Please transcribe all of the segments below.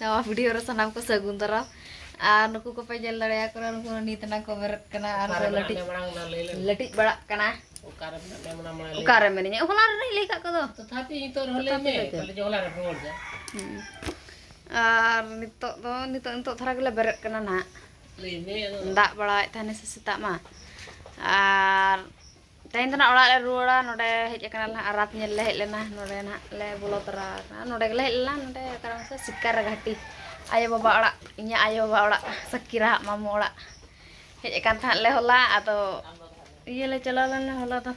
ᱱᱟᱣᱟ ᱵᱷᱤᱰᱤᱭᱳ ᱨᱮ ᱥᱟᱱᱟᱢ ᱠᱚ ᱥᱟᱹᱜᱩᱱ ᱫᱟᱨᱟᱢ ᱟᱨ ᱱᱩᱠᱩ ᱠᱚᱯᱮ ᱧᱮᱞ ᱫᱟᱲᱮᱭᱟᱠᱚ ᱠᱟᱱᱟ ᱱᱩᱠᱩ ᱱᱤᱛ ᱱᱟᱝ ᱠᱚ ᱵᱮᱨᱮᱫ ᱠᱟᱱᱟ ᱟᱨ ᱠᱚ ᱞᱟᱹᱴᱤᱡ ᱞᱟᱹᱴᱤᱡ ᱵᱟᱲᱟᱜ ᱠᱟᱱᱟ ᱚᱠᱟᱨᱮ ᱢᱮᱱᱟᱹᱧᱟ ᱦᱚᱞᱟ ᱨᱮᱱᱟᱜ ᱞᱟᱹᱭ ᱠᱟᱜ ᱠᱚᱫᱚ ᱛᱚᱛᱷᱟᱯᱤ ᱱᱤᱛᱚᱜ ᱨᱮᱦᱚᱸ ᱞᱟᱹᱭ ᱢᱮ ᱛᱟᱦᱞᱮ ᱡᱮ ᱦᱚᱞᱟ ᱨᱮ ᱨᱩᱣᱟᱹᱲ ᱫᱟ ᱟᱨ ᱱᱤᱛᱚᱜ ᱫᱚ ᱱᱤᱛᱚᱜ ᱱᱤᱛᱚᱜ ᱫᱷᱟᱨᱟ ᱜᱮᱞᱮ ᱵᱮᱨᱮᱫ ᱠᱟᱱᱟ ᱱᱟᱦᱟᱜ ᱞᱟᱹᱭ ᱢᱮ ᱫᱟᱜ ᱵᱟᱲᱟᱭᱮᱫ ᱛᱟᱦᱮᱱᱟ ᱥᱮ ᱥᱮᱛᱟᱜ ᱢᱟ ᱟᱨ ᱛᱮᱦᱮᱧ ᱫᱚ ᱱᱟᱦᱟᱜ ᱚᱲᱟᱜ ᱞᱮ ᱨᱩᱣᱟᱹᱲᱟ ᱱᱚᱰᱮ ᱦᱮᱡ ᱟᱠᱟᱱᱟ ᱱᱟᱦᱟᱜ ᱟᱨ ᱨᱟᱛ ᱧᱮᱞ ᱞᱮ ᱦᱮᱡ ᱞᱮᱱᱟ ᱱᱚᱰᱮ ᱱᱟᱦᱟᱜ ᱞᱮ ᱵᱚᱞᱚ ᱛᱚᱨᱟ ᱟᱠᱟᱱᱟ ᱱᱚᱰᱮ ᱜᱮᱞᱮ ᱦᱮᱡ ᱞᱮᱱᱟ ᱱᱚᱰᱮ ᱚᱠᱟᱨᱮ ᱢᱟᱥᱮ ᱥᱤᱠᱟᱨ ᱜᱷᱟᱴᱤ ᱟᱭᱳ ᱵᱟᱵᱟ ᱚᱲᱟᱜ ᱤᱧᱟᱹᱜ ᱟᱭᱳ ᱵᱟᱵᱟ ᱚᱲᱟᱜ ᱥᱟᱠᱤᱨᱟ ᱦᱟᱜ ᱢᱟᱢᱚ ᱚᱲᱟᱜ ᱦᱮᱡ ᱟᱠᱟᱱ ᱛᱟᱦᱮᱸᱫ ᱞᱮ ᱦᱚᱞᱟ ᱟᱫᱚ ᱤᱭᱟᱹ ᱞᱮ ᱪᱟᱞᱟᱣ ᱞᱮᱱᱟ ᱦᱚᱞᱟ ᱫᱚ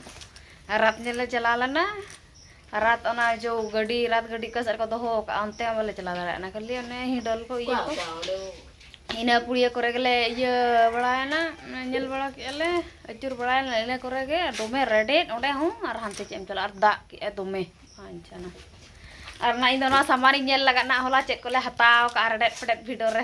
ᱨᱟᱛ ᱧᱮᱞ ᱞᱮ ᱪᱟᱞᱟᱣ ᱞᱮᱱᱟ ᱨᱟᱛ ᱚᱱᱟ ᱡᱚ ᱜᱟᱹᱰᱤ ᱨᱟᱛ ᱜᱟᱹᱰᱤ ᱚᱠᱟ ᱥᱮᱫ ᱨᱮᱠᱚ ᱫᱚᱦᱚ ᱟᱠᱟᱫᱼᱟ ᱚᱱᱛᱮ ᱦᱚᱸ ᱵᱟᱞᱮ ᱪᱟᱞᱟᱣ ᱫᱟᱲᱮᱭᱟᱜ ᱠᱟᱱᱟ ᱠᱷᱟᱹᱞᱤ ᱚᱱᱮ ᱦᱤᱰᱚᱞ ᱠᱚ ᱤᱭᱟᱹ ᱠᱚ ᱤᱱᱟᱹ ᱯᱩᱲᱤᱭᱟᱹ ᱠᱚᱨᱮ ᱜᱮᱞᱮ ᱤᱭᱟᱹ ᱵᱟᱲᱟᱭᱮᱱᱟ ᱧᱮᱞ ᱵᱟᱲᱟ ᱠᱮᱫᱼᱟ ᱞᱮ ᱟᱹᱪᱩᱨ ᱵᱟᱲᱟᱭᱮᱱᱟ ᱞᱮ ᱤᱱᱟᱹ ᱠᱚᱨᱮ ᱜᱮ ᱫᱚᱢᱮ ᱨᱮᱰᱮᱫ ᱚᱸᱰᱮ ᱦᱚᱸ ᱟᱨ ᱦᱟᱱᱛᱮ ᱪᱮᱫ ᱮᱢ ᱪᱟᱞᱟᱜᱼᱟ ᱟᱨ ᱫᱟᱜ ᱠᱮᱫᱼᱟᱭ ᱫᱚᱢᱮ ᱵᱟᱧᱪᱟᱱᱟ ᱟᱨ ᱱᱟᱦᱟᱜ ᱤᱧ ᱫᱚ ᱱᱚᱣᱟ ᱥᱟᱢᱟᱱᱤᱧ ᱧᱮᱞ ᱞᱟᱜᱟᱫ ᱱᱟᱦᱟᱜ ᱦᱚᱞᱟ ᱪᱮᱫ ᱠᱚᱞᱮ ᱦᱟᱛᱟᱣ ᱟᱠᱟᱫᱼᱟ ᱨᱮᱰᱮᱫ ᱯᱷᱮᱰᱮᱫ ᱵᱷᱤᱰᱤᱭᱳ ᱨᱮ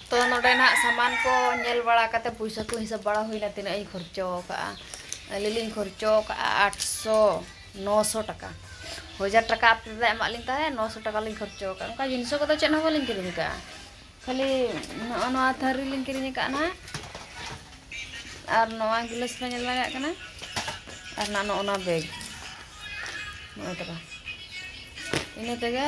ᱛᱚ ᱱᱚᱰᱮ ᱱᱟᱜ ᱥᱟᱢᱟᱱ ᱠᱚ ᱧᱮᱞ ᱵᱟᱲᱟ ᱠᱟᱛᱮ ᱯᱚᱭᱥᱟ ᱠᱚ ᱦᱤᱥᱟᱹᱵ ᱵᱟᱲᱟ ᱦᱩᱭᱱᱟ ᱛᱤᱱᱟᱹᱜ ᱤᱧ ᱠᱷᱚᱨᱪᱚ ᱟᱠᱟᱫᱼᱟ ᱟᱹᱞᱤᱧ ᱞᱤᱧ ᱠᱷᱚᱨᱪᱚ ᱟᱠᱟᱫᱼᱟ ᱟᱴᱥᱚ ᱱᱚᱥᱚ ᱴᱟᱠᱟ ᱦᱟᱡᱟᱨ ᱴᱟᱠᱟ ᱟᱯᱮ ᱯᱮ ᱮᱢᱟᱫ ᱞᱤᱧ ᱛᱟᱦᱮᱸᱫ ᱱᱚᱥᱚ ᱴᱟᱠᱟ ᱞᱤᱧ ᱠᱷᱚᱨᱪᱚ ᱟᱠᱟᱫᱼᱟ ᱚᱱᱠᱟ ᱡᱤᱱᱤᱥ ᱠᱚᱫᱚ ᱪᱮᱫ ᱦᱚᱸ ᱵᱟᱹᱞᱤᱧ ᱠᱤᱨᱤᱧ ᱟᱠᱟᱫᱼᱟ ᱠᱷᱟᱹᱞᱤ ᱱᱚᱜᱼᱚ ᱱᱚᱣᱟ ᱛᱷᱟᱹᱨᱤ ᱞᱤᱧ ᱠᱤᱨᱤᱧ ᱟᱠᱟᱫᱼᱟ ᱱᱟᱜ ᱟᱨ ᱱᱚᱣᱟ ᱜᱤᱞᱟᱹᱥ ᱯᱮ ᱧᱮᱞ ᱫᱟᱲᱮᱭᱟᱜ ᱠᱟᱱᱟ ᱟᱨ ᱱᱟᱜ ᱱᱚᱜᱼᱚ ᱱᱚᱣᱟ ᱵᱮᱜᱽ ᱱᱚᱜᱼᱚᱭ ᱛᱟᱨᱟ ᱤᱱᱟᱹ ᱛᱮᱜᱮ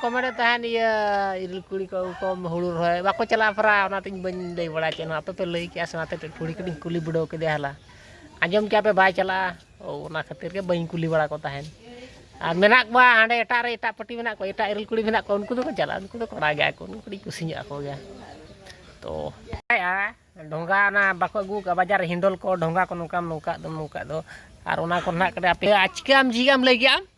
ᱠᱚ ᱢᱮᱱᱮᱫ ᱛᱟᱦᱮᱱ ᱤᱭᱟᱹ ᱤᱨᱤᱞ ᱠᱩᱲᱤ ᱠᱚ ᱟᱹᱜᱩ ᱠᱚᱢ ᱦᱩᱲᱩ ᱨᱚᱦᱚᱭ ᱵᱟᱠᱚ ᱪᱟᱞᱟᱜᱼᱟ ᱯᱟᱨᱟ ᱚᱱᱟᱛᱤᱧ ᱵᱟᱹᱧ ᱞᱟᱹᱭ ᱵᱟᱲᱟ ᱠᱮᱫᱼᱟ ᱟᱯᱮ ᱯᱮ ᱞᱟᱹᱭ ᱠᱮᱫᱼᱟ ᱥᱮ ᱚᱱᱟᱛᱮ ᱠᱩᱲᱤ ᱠᱚᱞᱤᱧ ᱠᱩᱞᱤ ᱵᱤᱰᱟᱹᱣ ᱠᱮᱫᱮᱭᱟ ᱦᱚᱞᱟ ᱟᱸᱡᱚᱢ ᱠᱮᱫᱼᱟ ᱯᱮ ᱵᱟᱭ ᱪᱟᱞᱟᱜᱼᱟ ᱚᱱᱟ ᱠᱷᱟᱹᱛᱤᱨ ᱜᱮ ᱵᱟᱹᱧ ᱠᱩᱞᱤ ᱵᱟᱲᱟ ᱠᱚ ᱛᱟᱦᱮᱱ ᱟᱨ ᱢᱮᱱᱟᱜ ᱠᱚᱣᱟ ᱦᱟᱸᱰᱮ ᱮᱴᱟᱜ ᱨᱮ ᱮᱴᱟᱜ ᱯᱟᱹᱴᱤ ᱢᱮᱱᱟᱜ ᱠᱚᱣᱟ ᱮᱴᱟᱜ ᱤᱨᱤᱞ ᱠᱩᱲᱤ ᱢᱮᱱᱟᱜ ᱠᱚᱣᱟ ᱩᱱᱠᱩ ᱫᱚᱠᱚ ᱪᱟᱞᱟᱜᱼᱟ ᱩᱱᱠᱩ ᱫᱚ ᱠᱚᱲᱟ ᱜᱮᱭᱟ ᱠᱚ ᱩᱱᱠᱩ ᱠᱟᱹᱴᱤᱡ ᱠᱩᱥᱤ ᱧᱚᱜ ᱟᱠᱚ ᱜᱮᱭᱟ ᱛᱚ ᱰᱷᱚᱸᱜᱟ ᱚᱱᱟ ᱵᱟᱠᱚ ᱟᱹᱜᱩ ᱠᱟᱜᱼᱟ ᱵᱟᱡᱟᱨ ᱦᱤᱱᱰᱚᱞ ᱠᱚ ᱰᱷᱚᱸᱜᱟ ᱠᱚ ᱱᱚᱝᱠᱟᱢ ᱱᱚᱝᱠᱟ ᱫᱚ ᱱᱚᱝᱠᱟ ᱫᱚ ᱟᱨ ᱚᱱᱟ ᱠᱚ ᱱᱟᱦᱟᱜ ᱠᱟᱹᱴᱤᱡ ᱟᱯᱮ ᱪᱤᱠᱟᱹᱭᱟᱢ ᱡᱷᱤᱡᱟᱢ ᱞᱟᱹᱭ ᱠᱮᱫᱼᱟ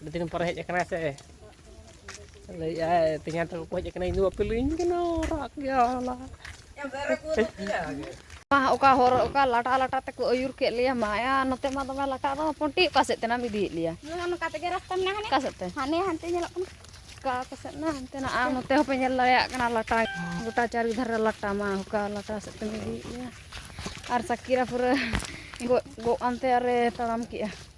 ᱟᱹᱰᱤ ᱫᱤᱱ ᱯᱚᱨᱮ ᱦᱮᱡ ᱟᱠᱟᱱᱟᱭ ᱥᱮ ᱞᱟᱹᱭᱮᱫᱼᱟᱭ ᱛᱮᱦᱮᱧ ᱛᱮᱠᱚ ᱠᱚ ᱦᱮᱡ ᱟᱠᱟᱱᱟ ᱤᱧ ᱫᱚ ᱵᱟᱯᱮ ᱞᱟᱹᱭᱟᱹᱧ ᱠᱟᱱᱟ ᱨᱟᱜ ᱜᱮᱭᱟ ᱦᱚᱞᱟ ᱚᱠᱟ ᱦᱚᱨ ᱚᱠᱟ ᱞᱟᱴᱟ ᱞᱟᱴᱟ ᱛᱮᱠᱚ ᱟᱹᱭᱩᱨ ᱠᱮᱫ ᱞᱮᱭᱟ ᱢᱟᱭᱟ ᱱᱚᱛᱮ ᱢᱟ ᱫᱚᱢᱮ ᱞᱟᱴᱟ ᱫᱚ ᱯᱚᱱᱴᱤ ᱚᱠᱟ ᱥᱮᱫ ᱛᱮᱱᱟᱢ ᱤᱫᱤᱭᱮᱫ ᱞᱮᱭᱟ ᱱᱚᱝᱠᱟ ᱛᱮᱜᱮ ᱨᱟᱥᱛᱟ ᱢᱮᱱᱟᱜᱼᱟ ᱚᱠᱟ ᱥᱮᱫ ᱛᱮ ᱦᱟᱱᱮ ᱦᱟᱱᱛᱮ ᱧᱮᱞᱚᱜ ᱠᱟᱱᱟ ᱚᱠᱟ ᱚᱠᱟ ᱥᱮᱫ ᱱᱟ ᱦᱟᱱᱛᱮ ᱱᱟ ᱟᱨ ᱱᱚᱛᱮ ᱦᱚᱸᱯᱮ ᱧᱮᱞ ᱫᱟᱲᱮᱭᱟᱜ ᱠᱟᱱᱟ ᱞᱟᱴᱟ ᱜᱚᱴᱟ ᱪᱟᱨᱤ ᱫᱷᱟᱨᱮ ᱞᱟᱴᱟ ᱢᱟ ᱚᱠᱟ ᱞᱟᱴᱟ ᱥᱮᱫ ᱛᱮᱢ ᱤᱫᱤᱭᱮᱫ ᱞᱮᱭᱟ ᱟᱨ ᱥᱟᱠᱤᱨᱟ ᱯᱩᱨᱟᱹ ᱜᱚᱜ ᱜᱚᱜ ᱟᱱᱛᱮ ᱟᱨᱮ ᱛᱟᱲᱟᱢ ᱠᱮᱜᱼᱟ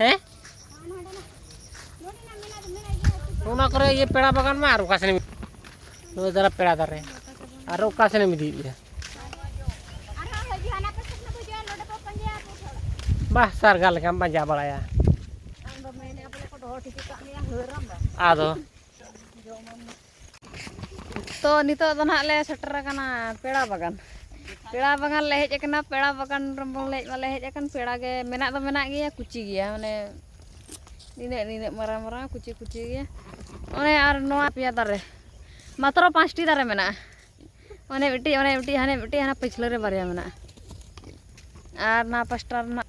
ᱦᱮᱸ ᱚᱱᱟ ᱠᱚᱨᱮ ᱤᱭᱟᱹ ᱯᱮᱲᱟ ᱵᱟᱜᱟᱱ ᱢᱟ ᱟᱨ ᱚᱠᱟ ᱥᱮᱱᱮᱢ ᱱᱚᱜᱼᱚᱭ ᱫᱟᱨᱟ ᱯᱮᱲᱟ ᱫᱟᱨᱮ ᱟᱨ ᱚᱠᱟ ᱥᱮᱱᱮᱢ ᱤᱫᱤᱭᱮᱫᱼᱟ ᱵᱟᱦ ᱥᱟᱨᱜᱟ ᱞᱮᱠᱟᱢ ᱯᱟᱸᱡᱟ ᱵᱟᱲᱟᱭᱟ ᱟᱫᱚ ᱛᱚ ᱱᱤᱛᱚᱜ ᱫᱚ ᱱᱟᱦᱟᱜ ᱞᱮ ᱥᱮᱴᱮᱨ ᱟᱠᱟᱱᱟ ᱯᱮᱲᱟ ᱵᱟᱜᱟᱱ ᱯᱮᱲᱟ ᱵᱟᱜᱟᱱ ᱞᱮ ᱦᱮᱡ ᱟᱠᱟᱱᱟ ᱯᱮᱲᱟ ᱵᱟᱜᱟᱱ ᱨᱮᱵᱚᱱ ᱦᱮᱡ ᱢᱟᱞᱮ ᱦᱮᱡ ᱟᱠᱟᱱ ᱯᱮᱲᱟ ᱜᱮ ᱢᱮᱱᱟᱜ ᱫᱚ ᱢᱮᱱᱟᱜ ᱜᱮᱭᱟ ᱠᱩᱪᱤ ᱜᱮᱭᱟ ᱢᱟᱱᱮ ᱱᱤᱱᱟᱹᱜ ᱱᱤᱱᱟᱹᱜ ᱢᱟᱨᱟᱝ ᱢᱟᱨᱟᱝ ᱠᱩᱪᱤ ᱠᱩᱪᱤ ᱜᱮᱭᱟ ᱚᱱᱮ ᱟᱨ ᱱᱚᱣᱟ ᱯᱮᱭᱟ ᱫᱟᱨᱮ ᱢᱟᱛᱨᱚ ᱯᱟᱸᱪᱴᱤ ᱫᱟᱨᱮ ᱢᱮᱱᱟᱜᱼᱟ ᱚᱱᱮ ᱢᱤᱫᱴᱤᱡ ᱚᱱᱮ ᱢᱤᱫᱴᱤᱡ ᱦᱟᱱᱮ ᱢᱤᱫᱴᱤᱡ ᱦᱟᱱᱟ ᱯᱟᱹᱪᱷᱞᱟᱹ ᱨᱮ ᱵᱟᱨᱭᱟ ᱢᱮᱱᱟᱜᱼᱟ ᱟᱨ ᱱᱚᱣᱟ ᱯᱟᱥᱴᱟ ᱨᱮᱱᱟᱜ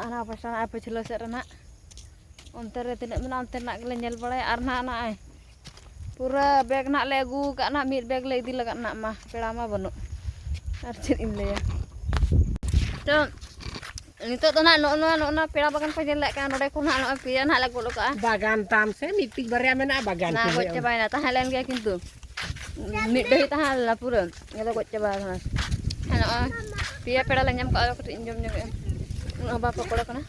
ᱚᱱᱟ ᱯᱟᱥᱴᱟ ᱱᱟᱜ ᱯᱟᱹᱪᱷᱞᱟᱹ ᱥᱮᱫ ᱨᱮᱱᱟᱜ ᱚᱱᱛᱮ ᱨᱮ ᱛᱤᱱᱟᱹᱜ ᱢᱮᱱᱟᱜᱼᱟ ᱚᱱᱛᱮ ᱨᱮᱱᱟᱜ ᱜᱮᱞᱮ ᱧᱮᱞ ᱵᱟᱲᱟᱭᱟ ᱟᱨ ᱱᱟᱜ ᱱᱚᱜᱼᱚᱭ ᱯᱩᱨᱟᱹ ᱵᱮᱜᱽ ᱱᱟᱜ ᱞᱮ ᱟᱹᱜᱩ ᱠᱟᱜ ᱱᱟᱜ ᱢᱤᱫ ᱵᱮᱜᱽ ᱞᱮ ᱤᱫᱤ ᱞᱟᱜᱟᱫ ᱱᱟᱜ ᱢᱟ ᱯᱮᱲᱟ ᱢᱟ ᱵᱟᱹᱱᱩᱜ ᱟᱨ ᱪᱮᱫ ᱤᱧ ᱞᱟᱹᱭᱟ ᱛᱚ ᱱᱤᱛᱚᱜ ᱫᱚ ᱱᱟᱜ ᱱᱚᱜᱼᱚ ᱱᱚᱣᱟ ᱱᱚᱜᱼᱚ ᱱᱚᱣᱟ ᱯᱮᱲᱟ ᱵᱟᱜᱟᱱ ᱠᱚ ᱧᱮᱞ ᱞᱮᱫ ᱠᱟᱱᱟ ᱱᱚᱰᱮ ᱠᱷᱚᱱ ᱱᱟᱜ ᱱᱚᱜᱼᱚᱭ ᱯᱮᱭᱟ ᱱᱟᱜ ᱞᱮ ᱜᱚᱫ ᱠᱟᱜᱼᱟ ᱵᱟᱜᱟᱱ ᱛᱟᱢ ᱥᱮ ᱢᱤᱫᱴᱤᱡ ᱵᱟᱨᱭᱟ ᱢᱮᱱᱟᱜᱼᱟ ᱵᱟᱜᱟᱱ ᱱᱟ ᱜᱚᱡ ᱪᱟᱵᱟᱭᱮᱱᱟ ᱛᱟᱦᱮᱸ ᱞᱮᱱ ᱜᱮᱭᱟ ᱠᱤᱱᱛᱩ ᱢᱤᱫ ᱰᱟᱹᱦᱤ ᱛᱟᱦᱮᱸ ᱞᱮᱱᱟ ᱯᱩᱨᱟᱹ ᱚᱱᱟ ᱫᱚ ᱜᱚᱡ ᱪᱟᱵᱟ ᱟᱠᱟᱱᱟ ᱟᱨ ᱱᱚᱜᱼᱚᱭ ᱯᱮᱭᱟ ᱯᱮᱲᱟ ᱞᱮ ᱧᱟᱢ ᱠᱟᱜᱼᱟ ᱠᱟᱹᱴᱤᱡ ᱤᱧ ᱡᱚᱢ ᱧᱚᱜᱮᱜᱼᱟ ᱩᱱᱟᱹᱜ ᱦᱚᱸ ᱵᱟᱝ ᱯᱚᱠᱚᱲᱟ ᱠᱟᱱᱟ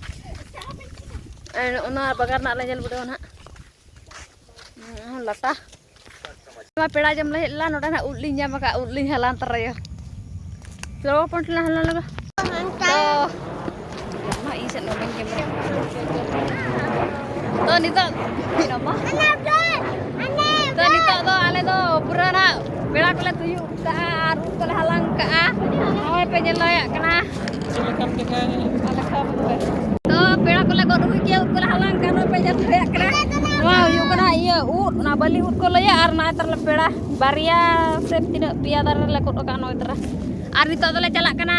ᱟᱨ ᱚᱱᱟ ᱵᱟᱜᱟᱱ ᱨᱮᱱᱟᱜ ᱞᱮ ᱧᱮᱞ ᱵᱤᱰᱟᱹᱣᱟ ᱱᱟᱦᱟᱜ ᱞᱟᱴᱟ ᱱᱚᱣᱟ ᱯᱮᱲᱟ ᱡᱚᱢ ᱞᱮ ᱦᱮᱡ ᱞᱮᱱᱟ ᱱᱚᱰᱮ ᱱᱟᱦᱟᱜ ᱩᱫ ᱞᱤᱧ ᱧᱟᱢ ᱟᱠᱟᱫ ᱩᱫ ᱞᱤᱧ ᱦᱟᱞᱟᱝ ᱛᱚᱨᱟᱭᱟ ᱪᱚᱞᱚ ᱯᱚᱱᱴᱞᱟ ᱦᱟᱞᱟᱝ ᱞᱮᱜᱟ ᱛᱚ ᱱᱤᱛᱚᱜ ᱛᱚ ᱱᱤᱛᱚᱜ ᱫᱚ ᱟᱞᱮ ᱫᱚ ᱯᱩᱨᱟᱹ ᱱᱟᱜ ᱵᱮᱲᱟ ᱠᱚᱞᱮ ᱛᱩᱭᱩᱜ ᱠᱟᱜᱼᱟ ᱟᱨ ᱩᱫ ᱠᱚᱞᱮ ᱦᱟᱞᱟᱝ ᱠᱟᱜᱼᱟ ᱱᱚᱜᱼᱚᱭ ᱯᱮ ᱧᱮᱞ ᱫᱟᱲᱮᱭᱟᱜ ᱠᱟᱱᱟ ᱛᱚ ᱯᱮᱲᱟ ᱠᱚᱞᱮ ᱜᱚᱫ ᱦᱩᱭ ᱠᱮᱫᱟ ᱩᱫ ᱠᱚᱞᱮ ᱦᱟᱞᱟᱝ ᱠᱟᱜᱼᱟ ᱱᱚᱜᱼᱚᱭ ᱯᱮ ᱧᱮᱞ ᱫᱟᱲᱮᱭᱟᱜ ᱠᱟᱱᱟ ᱱᱚᱣᱟ ᱦᱩᱭᱩᱜ ᱠᱟᱱᱟ ᱤᱭᱟᱹ ᱩᱫ ᱚᱱᱟ ᱵᱟᱹᱞᱤ ᱩᱫ ᱠᱚ ᱞᱟᱹᱭᱟ ᱟᱨ ᱱᱚᱜᱼᱚᱭ ᱛᱟᱨᱞᱮ ᱯᱮᱲᱟ ᱵᱟᱨᱭᱟ ᱥᱮ ᱛᱤᱱᱟᱹᱜ ᱯᱮᱭᱟ ᱫᱟᱨᱮ ᱨᱮᱞᱮ ᱜᱚᱫ ᱠᱟᱜᱼᱟ ᱱᱚᱜᱼᱚᱭ ᱛᱟᱨᱟ ᱟᱨ ᱱᱤᱛᱚᱜ ᱫᱚᱞᱮ ᱪᱟᱞᱟᱜ ᱠᱟᱱᱟ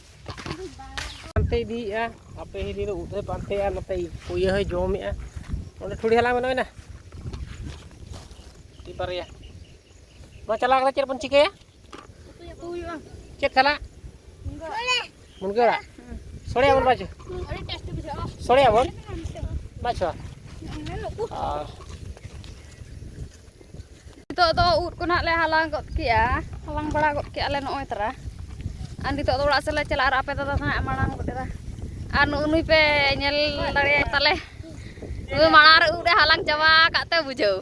ᱯᱟᱱᱛᱮ ᱤᱫᱤᱭᱮᱫᱼᱟ ᱟᱯᱮ ᱦᱤᱨᱤ ᱫᱚ ᱩᱫ ᱮ ᱯᱟᱱᱛᱮᱭᱟ ᱱᱚᱛᱮ ᱠᱩᱭᱟᱹ ᱦᱚᱸᱭ ᱡᱚᱢᱮᱫᱼᱟ ᱚᱸᱰᱮ ᱴᱷᱩᱲᱤ ᱦᱟᱞᱟᱝ ᱢᱮᱱᱟᱜ ᱢᱮᱱᱟ ᱴᱤ ᱵᱟᱨᱭᱟ ᱱᱚᱣᱟ ᱪᱟᱞᱟᱣ ᱠᱟᱛᱮ ᱪᱮᱫ ᱵᱚᱱ ᱪᱤᱠᱟᱹᱭᱟ ᱪᱮᱫ ᱥᱟᱞᱟᱜ ᱢᱩᱱᱜᱟᱹ ᱟᱲᱟᱜ ᱥᱚᱲᱮᱭᱟ ᱵᱚᱱ ᱵᱟᱪᱚ ᱥᱚᱲᱮᱭᱟ ᱵᱚᱱ ᱵᱟᱪᱚ ᱱᱤᱛᱚᱜ ᱫᱚ ᱩᱫ ᱠᱚ ᱱᱟᱦᱟᱜ ᱞᱮ ᱦᱟᱞᱟᱝ ᱜᱚᱫ ᱠᱮᱜᱼᱟ ᱦᱟᱞᱟᱝ ᱵᱟᱲᱟ ᱜᱚᱫ ᱠᱮᱜᱼᱟ ᱞᱮ ᱱᱚᱜᱼᱚᱭ ᱛᱚᱨᱟ ᱟᱨ ᱱᱤᱛᱚᱜ ᱫᱚ ᱚᱲᱟᱜ ᱥᱮᱫ ᱞᱮ ᱪᱟᱞᱟᱜᱼᱟ ᱟᱨ ᱟᱯᱮ ᱫᱟᱫᱟ ᱫᱚ ᱱᱟᱦᱟᱜ ᱢᱟᱲᱟᱝ ᱜᱚᱫ ᱮᱫᱟ ᱟᱨ ᱱᱩᱜᱼᱩ ᱱᱩᱭ ᱯᱮ ᱧᱮᱞ ᱫᱟᱲᱮᱭᱟᱭ ᱛᱟᱞᱮ ᱱᱩᱭ ᱢᱟᱲᱟᱝ ᱨᱮ ᱩᱫ ᱮ ᱦᱟᱞᱟᱝ ᱪᱟᱵᱟ ᱟᱠᱟᱫ ᱛᱮ ᱵᱩᱡᱷᱟᱹᱣ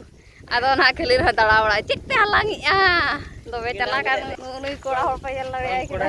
ᱟᱫᱚ ᱱᱟᱦᱟᱜ ᱠᱷᱟᱹᱞᱤ ᱨᱮᱦᱚᱸ ᱫᱟᱬᱟ ᱵᱟᱲᱟᱭ ᱪᱮᱫ ᱯᱮ ᱦᱟᱞᱟᱝᱮᱜᱼᱟ ᱫᱚᱢᱮ ᱪᱟᱞᱟᱠ ᱟᱨ ᱱᱩᱜᱼᱩ ᱱᱩᱭ ᱠᱚᱲᱟ ᱦᱚᱲ ᱯᱮ ᱧᱮᱞ ᱫᱟᱲᱮᱭᱟᱭ ᱠᱟᱱᱟ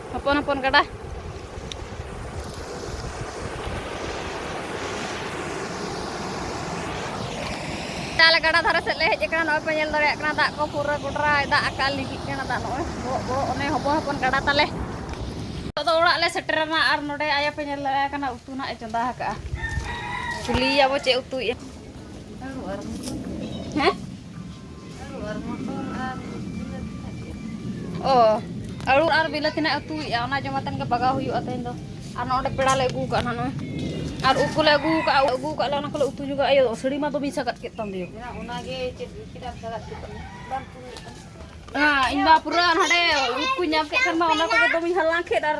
ᱦᱚᱯᱚᱱ ᱦᱚᱯᱚᱱ ᱜᱟᱰᱟ ᱛᱟᱦᱚᱞᱮ ᱜᱟᱰᱟ ᱫᱷᱟᱨᱮ ᱥᱮᱫ ᱞᱮ ᱦᱮᱡ ᱟᱠᱟᱱᱟ ᱱᱚᱜᱼᱚᱭ ᱯᱮ ᱧᱮᱞ ᱫᱟᱲᱮᱭᱟᱜ ᱠᱟᱱᱟ ᱫᱟᱜ ᱠᱚ ᱯᱩᱨᱟᱹ ᱜᱚᱰᱨᱟᱭ ᱫᱟᱜ ᱟᱠᱟᱫ ᱞᱤᱜᱤᱜ ᱠᱟᱱᱟ ᱫᱟᱜ ᱱᱚᱜᱼᱚᱭ ᱵᱚᱦᱚᱜ ᱵᱚᱦᱚᱜ ᱚᱱᱮ ᱦᱚᱯᱚᱱ ᱦᱚᱯᱚᱱ ᱜᱟᱰᱟ ᱛᱟᱞᱮ ᱱᱤᱛᱚᱜ ᱫᱚ ᱚᱲᱟᱜ ᱞᱮ ᱥᱮᱴᱮᱨᱮᱱᱟ ᱟᱨ ᱱᱚᱰᱮ ᱟᱭᱳ ᱯᱮ ᱧᱮᱞ ᱫᱟᱲᱮᱭᱟᱭ ᱠᱟᱱᱟ ᱩᱛᱩ ᱱᱟᱜ ᱮ ᱪᱚᱸᱫᱟ ᱟᱠᱟᱜᱼᱟ ᱠᱩᱞᱤᱭᱮᱭᱟᱵᱚ ᱪᱮᱫ ᱩᱛᱩᱭᱮᱫᱼᱟ ᱦᱮᱸ ᱚ ᱟᱹᱲᱩ ᱟᱨ ᱵᱤᱞᱟᱹᱛᱤ ᱱᱟᱜ ᱩᱛᱩᱭᱮᱜᱼᱟ ᱚᱱᱟ ᱡᱚᱢ ᱟᱛᱮᱱ ᱜᱮ ᱵᱟᱜᱟᱣ ᱦᱩᱭᱩᱜᱼᱟ ᱛᱮᱦᱮᱧ ᱫᱚ ᱟᱨ ᱱᱚᱰᱮ ᱯᱮᱲᱟ ᱞᱮ ᱟᱹᱜᱩ ᱠᱟᱜᱼᱟ ᱱᱚᱜᱼᱚᱭ ᱟᱨ ᱩᱵ ᱠᱚᱞᱮ ᱟᱹᱜᱩ ᱠᱟᱜᱼᱟ ᱟᱹᱜᱩ ᱠᱟᱜ ᱞᱮ ᱚᱱᱟ ᱠᱚᱞᱮ ᱩᱛᱩ ᱧᱚᱜᱟ ᱟᱭᱳ ᱥᱟᱹᱲᱤ ᱢᱟ ᱫᱚᱢᱮ ᱥᱟᱜᱟᱫ ᱠᱮᱫ ᱛᱟᱢ ᱫᱚᱭᱳ ᱚᱱᱟᱜᱮ ᱪᱮᱫ ᱪᱮᱫᱟᱜ ᱥᱟᱜᱟᱫ ᱠᱮᱫ ᱛᱟᱢ ᱵᱟᱝ ᱯᱩᱨᱟᱹᱜ ᱠᱟᱱᱟ ᱤᱧ ᱢᱟ ᱯᱩᱨᱟᱹ ᱱᱚᱰᱮ ᱩᱵ ᱠᱚ ᱧᱟᱢ ᱠᱮᱫ ᱠᱷᱟᱱ ᱢᱟ ᱚᱱᱟ ᱠᱚᱜᱮ ᱫᱚᱢᱮᱧ ᱦᱟᱞᱟᱝ ᱠᱮᱫ ᱟᱨ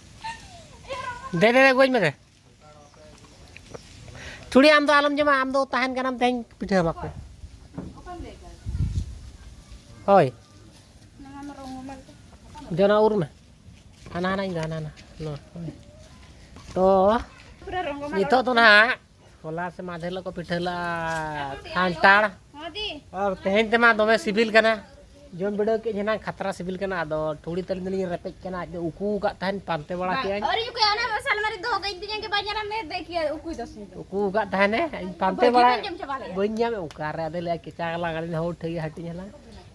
ᱫᱮ ᱫᱮ ᱜᱚᱡ ᱢᱮ ᱫᱮ ᱪᱩᱲᱤ ᱟᱢ ᱫᱚ ᱟᱞᱚᱢ ᱡᱚᱢᱟ ᱟᱢ ᱫᱚ ᱛᱟᱦᱮᱱ ᱠᱟᱱᱟᱢ ᱛᱮᱦᱮᱧ ᱯᱤᱴᱷᱟᱹ ᱟᱢᱟ ᱠᱚ ᱦᱳᱭ ᱡᱚᱱᱟ ᱩᱨ ᱢᱮ ᱦᱟᱱᱟ ᱦᱟᱱᱟ ᱤᱧ ᱫᱚ ᱦᱟᱱᱟ ᱦᱟᱱᱟ ᱛᱚ ᱱᱤᱛᱚᱜ ᱫᱚ ᱱᱟᱦᱟᱜ ᱦᱚᱞᱟ ᱥᱮ ᱢᱟᱫᱷᱮᱨ ᱦᱤᱞᱳᱜ ᱠᱚ ᱯᱤᱴᱷᱟᱹ ᱞᱮᱫᱼᱟ ᱠᱷᱟᱱᱴᱟᱲ ᱟᱨ ᱛᱮᱦᱮᱧ ᱛᱮᱢᱟ ᱫᱚᱢᱮ ᱥᱤᱵᱤᱞ ᱠᱟᱱᱟ ᱡᱚᱢ ᱵᱤᱰᱟᱹᱣ ᱠᱮᱫ ᱡᱮᱱᱟᱝ ᱠᱷᱟᱛᱨᱟ ᱥᱤᱵᱤᱞ ᱠᱟᱱᱟ ᱟᱫᱚ ᱴᱷᱩᱲᱤ ᱛᱟᱹᱞᱤᱧ ᱫᱚᱞᱤᱧ ᱨᱮᱯᱮᱡ ᱠᱟᱱᱟ ᱟᱡ ᱫᱚ ᱩᱠᱩ ᱟᱠᱟᱫ ᱛᱟᱦᱮᱱ ᱯᱟᱱᱛᱮ ᱵᱟᱲᱟ ᱠᱮᱫᱟᱹᱧ ᱩᱠᱩ ᱟᱠᱟᱫ ᱛᱟᱦᱮᱱᱮ ᱤᱧ ᱯᱟᱱᱛᱮ ᱵᱟᱲᱟ ᱵᱟᱹᱧ ᱧᱟᱢᱮᱫ ᱚᱠᱟᱨᱮ ᱟᱫᱚ ᱞᱟᱹᱭᱟ ᱠᱮᱪᱟ ᱜᱟᱞᱟᱝ ᱟᱹᱞᱤᱧ ᱦᱚᱸ ᱴᱷᱟᱹᱭ ᱦᱟᱹᱴᱤᱧ ᱦᱟᱞᱟᱝ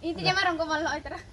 ᱤᱧ ᱛᱮ ᱡᱟᱢᱟ ᱨᱚᱝᱜᱚ ᱵᱟᱞ ᱱᱚᱜᱼᱚᱭ ᱛᱟᱨᱟ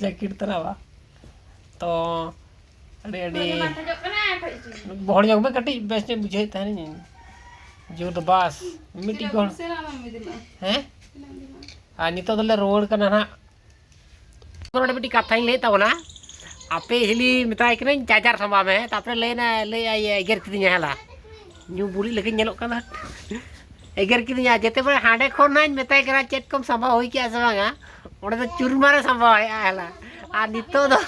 ᱡᱮᱠᱮᱴ ᱛᱟᱨᱟᱣᱟ ᱛᱚ ᱟᱹᱰᱤ ᱟᱹᱰᱤ ᱵᱚᱦᱚᱲ ᱧᱚᱜ ᱢᱮ ᱠᱟᱹᱴᱤᱡ ᱵᱮᱥ ᱧᱚᱜ ᱵᱩᱡᱷᱟᱹᱣᱮᱫ ᱛᱟᱦᱮᱱᱤᱧ ᱡᱩᱛ ᱵᱟᱥ ᱢᱤᱫᱴᱤᱡ ᱜᱚᱲ ᱦᱮᱸ ᱟᱨ ᱱᱤᱛᱚᱜ ᱫᱚᱞᱮ ᱨᱩᱣᱟᱹᱲ ᱠᱟᱱᱟ ᱦᱟᱸᱜ ᱱᱚᱰᱮ ᱢᱤᱫᱴᱤᱡ ᱠᱟᱛᱷᱟᱧ ᱞᱟᱹᱭᱮᱫ ᱛᱟᱵᱚᱱᱟ ᱟᱯᱮ ᱦᱤᱞᱤ ᱢᱮᱛᱟᱭ ᱠᱟᱹᱱᱟᱹᱧ ᱪᱟᱨᱡᱟᱨ ᱥᱟᱢᱵᱟᱣ ᱢᱮ ᱛᱟᱨᱯᱚᱨᱮ ᱞᱟᱹᱭᱱᱟ ᱞᱟᱹᱭ ᱮᱜᱮᱨ ᱠᱤᱫᱤᱧᱟ ᱦᱮᱞᱟ ᱧᱩ ᱵᱩᱲᱤ ᱞᱮᱠᱟᱧ ᱧᱮᱞᱚᱜ ᱠᱟᱱᱟ ᱮᱜᱮᱨ ᱠᱤᱫᱤᱧᱟ ᱡᱮᱛᱮ ᱵᱟᱨ ᱦᱟᱸᱰᱮ ᱠᱷᱚᱱ ᱱᱟᱧ ᱢᱮᱛᱟᱭ ᱠᱟᱱᱟ ᱪᱮᱫ ᱠᱚᱢ ᱥᱟᱢᱵᱟᱣ ᱦᱩᱭ ᱠᱮᱜᱼᱟ ᱥᱮ ᱵᱟᱝᱟ ᱚᱸᱰᱮ ᱫᱚ ᱪᱩᱨᱢᱟᱨᱮ ᱥᱟᱢᱵᱟᱣᱮᱜᱼᱟ ᱦᱮᱞᱟ ᱟᱨ ᱱᱤᱛᱚᱜ ᱫᱚ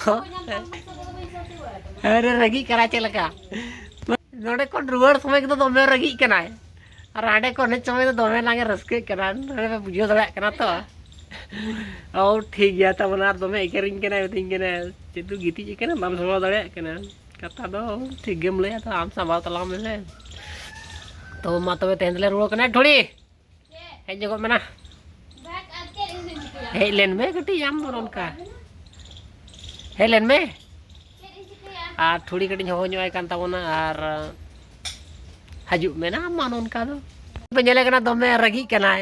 ᱟᱨᱮ ᱨᱟᱹᱜᱤᱜ ᱠᱟᱱᱟ ᱪᱮᱫ ᱞᱮᱠᱟ ᱱᱚᱰᱮ ᱠᱷᱚᱱ ᱨᱩᱣᱟᱹᱲ ᱥᱚᱢᱚᱭ ᱫᱚ ᱫᱚᱢᱮ ᱨᱟᱹᱜᱤᱜ ᱠᱟᱱᱟᱭ ᱟᱨ ᱦᱟᱸᱰᱮ ᱠᱷᱚᱱ ᱦᱮᱡ ᱥᱚᱢᱚᱭ ᱫᱚ ᱫᱚᱢᱮ ᱱᱟᱝᱮ ᱨᱟᱹᱥᱠᱟᱹᱜ ᱠᱟᱱᱟ ᱱᱚᱰᱮ ᱯᱮ ᱵᱩᱡᱷᱟᱹᱣ ᱫᱟᱲᱮᱭᱟᱜ ᱠᱟᱱᱟ ᱛᱚ ᱚ ᱴᱷᱤᱠ ᱜᱮᱭᱟ ᱛᱟᱵᱚᱱᱟ ᱟᱨ ᱫᱚᱢᱮ ᱮᱜᱮᱨᱤᱧ ᱠᱟᱱᱟᱭ ᱢᱤᱛᱟᱹᱧ ᱠᱟᱱᱟᱭ ᱪᱮᱫ ᱫᱚ ᱜᱤᱛᱤᱡ ᱟᱠᱟᱱᱟ ᱵᱟᱢ ᱥᱟᱢᱵᱟᱣ ᱫᱟᱲᱮᱭᱟᱜ ᱠᱟᱱᱟ ᱠᱟᱛᱷᱟ ᱫᱚ ᱴᱷᱤᱠ ᱜᱮᱢ ᱞᱟᱹᱭᱟ ᱛᱚ ᱟᱢ ᱥᱟᱵᱟᱣ ᱛᱟᱞᱟᱝ ᱢᱮᱥᱮ ᱛᱚ ᱢᱟ ᱛᱚᱵᱮ ᱛᱮᱦᱮᱧ ᱫᱚᱞᱮ ᱨᱩᱣᱟᱹᱲ ᱠᱟᱱᱟ ᱰᱷᱚᱲᱤ ᱦᱮᱡ ᱧᱚᱜᱚᱜ ᱢᱮᱱᱟ ᱦᱮᱡ ᱞᱮᱱ ᱢᱮ ᱠᱟᱹᱴᱤᱡ ᱟᱢ ᱫᱚ ᱱᱚᱝᱠᱟ ᱦᱮᱡ ᱞᱮᱱ ᱢᱮ ᱟᱨ ᱴᱷᱩᱲᱤ ᱠᱟᱹᱴᱤᱡ ᱦᱚᱦᱚ ᱧᱚᱜ ᱟᱭ ᱠᱟᱱ ᱛᱟᱵᱚᱱᱟ ᱟᱨ ᱦᱤᱡᱩᱜ ᱢᱮ ᱱᱟᱝ ᱢᱟ ᱱᱚᱝᱠᱟ ᱫᱚ ᱧᱮᱞᱮ ᱠᱟᱱᱟ ᱫᱚᱢᱮ ᱨᱟᱹᱜᱤᱜ ᱠᱟᱱᱟᱭ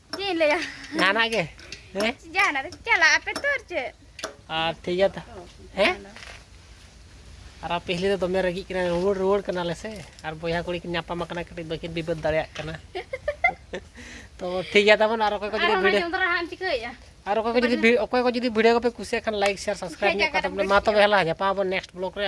ᱪᱮᱫ ᱤᱧ ᱞᱟᱹᱭᱟ ᱡᱟᱦᱟᱱᱟᱜ ᱜᱮ ᱦᱮᱸ ᱡᱟᱦᱟᱱᱟᱜ ᱨᱮ ᱪᱟᱞᱟᱜ ᱟᱯᱮ ᱛᱚ ᱟᱨ ᱪᱮᱫ ᱟᱨ ᱴᱷᱤᱠ ᱜᱮᱭᱟ ᱛᱚ ᱦᱮᱸ ᱟᱨ ᱟᱯᱮ ᱦᱤᱞᱤ ᱫᱚ ᱫᱚᱢᱮ ᱨᱟᱹᱜᱤᱜ ᱠᱟᱱᱟ ᱨᱩᱣᱟᱹᱲ ᱨᱩᱣᱟᱹᱲ ᱠᱟᱱᱟᱞᱮ ᱥᱮ ᱟᱨ ᱵᱚᱭᱦᱟ ᱠᱩᱲᱤ ᱠᱤᱱ ᱧᱟᱯᱟᱢ ᱟᱠᱟᱱᱟ ᱠᱟᱹᱴᱤᱡ ᱵᱟᱹᱠᱤᱱ ᱵᱤᱵᱟᱹᱫ ᱫᱟᱲᱮᱭᱟᱜ ᱠᱟᱱᱟ ᱛᱚ ᱴᱷᱤᱠ ᱜᱮᱭᱟ ᱛᱟᱵᱚᱱ ᱟᱨ ᱚᱠᱚᱭ ᱠᱚ ᱡᱩᱫᱤ ᱵᱷᱤᱰᱤᱭᱳ ᱟᱨ ᱚᱠᱚᱭ ᱠᱚ ᱡᱩᱫᱤ ᱚᱠᱚᱭ ᱠᱚ ᱡᱩᱫᱤ ᱵᱷᱤᱰᱤᱭᱳ ᱠᱚᱯᱮ ᱠᱩᱥᱤᱭᱟᱜ ᱠᱷᱟᱱ ᱞᱟᱭᱤᱠ ᱥᱮᱭᱟᱨ ᱥᱟᱵᱥᱠᱨᱟᱭᱤᱵ ᱢᱟ ᱛᱚᱵᱮ ᱦᱮᱞᱟ ᱧᱟᱯᱟᱢ ᱟᱵᱚᱱ ᱱᱮᱠᱥᱴ ᱵᱞᱚᱜ ᱨᱮ